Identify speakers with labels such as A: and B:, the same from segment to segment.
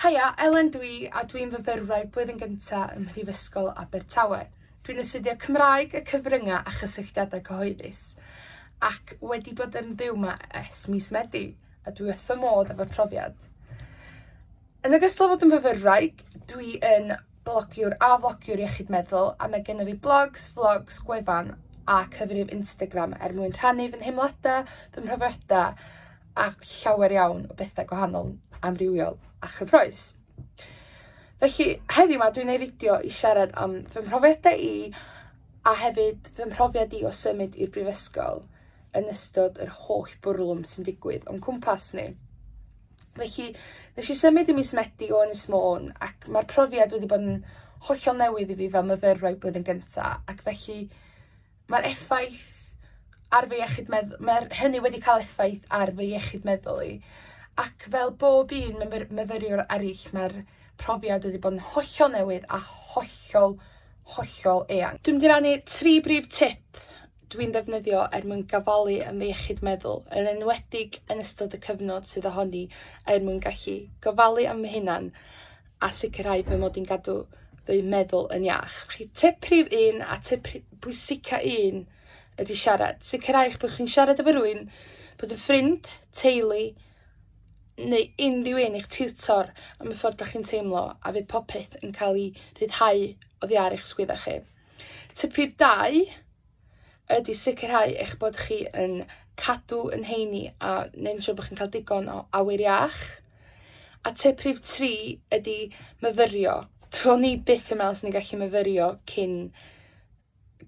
A: Haia, Elen dw i a dwi'n fyfyrwraig blwyddyn gynta ym Mhrifysgol Abertawe. Dwi'n astudio Cymraeg y Cyfryngau a Chysylltiadau Cyhoeddus ac wedi bod yn byw 'ma ers mis Medi a dwi wrth fy modd efo'r profiad. Yn ogystal â fod yn fyfyrwraig, dwi yn blogiwr a flogiwr iechyd meddwl a mae gennyf fi blogs, flogs, gwefan a cyfrif Instagram er mwyn rhannu fy nheimladau, fy mhrofiadau a llawer iawn o bethau gwahanol, amrywiol a chyffroes. Felly, heddiw ma dwi'n ei fideo i siarad am fy mhrofiadau i a hefyd fy mhrofiad i o symud i'r brifysgol yn ystod yr holl bwrlwm sy'n digwydd o'n cwmpas ni. Felly, nes i symud i mis Medi o Ynys Môn ac mae'r profiad wedi bod yn hollol newydd i fi fel myfyrwraig blwyddyn gynta ac felly Mae'r effaith ar fy iechyd medd- mae'r hynny wedi cael effaith ar fy iechyd meddwl i ac fel bob un myfyr- myfyriwr eryll mae'r profiad wedi bod yn hollol newydd a hollol, hollol eang. Dwi'n mynd i rannu tri brif tip dwi'n ddefnyddio er mwyn gafalu yn fy iechyd meddwl, yn enwedig yn ystod y cyfnod sydd ohoni, er mwyn gallu gofalu am fy hunan a sicrhau fy mod i'n gadw fy meddwl yn iach. Chi tip prif un a tip bwysica un ydy siarad. Sicrhau eich bod chi'n siarad efo rwy'n bod yn ffrind, teulu, neu unrhyw un eich tiwtor am y ffordd da chi'n teimlo a fydd popeth yn cael ei rhyddhau oddi ar eich sgwydda chi. Tip prif dau, ydy sicrhau eich bod chi yn cadw yn heini a neu'n siŵr bod chi'n cael digon o awyr iach. A tip rhif 3 ydy myfyrio. Dwi'n ni byth yn meddwl sy'n ni'n gallu myfyrio cyn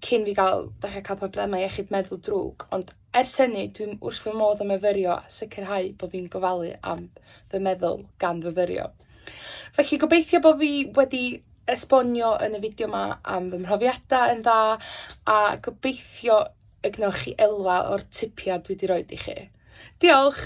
A: cyn fi gael, dechrau cael problemau iechyd meddwl drwg, ond Ers hynny, dwi wrth fy modd yn myfyrio a sicrhau bod fi'n gofalu am fy meddwl gan fyfyrio. Felly gobeithio bod fi wedi esbonio yn y fideo yma am fy mhrofiadau yn dda a gobeithio y gwnewch chi elwa o'r tipiau dwi wedi rhoi i chi. Diolch!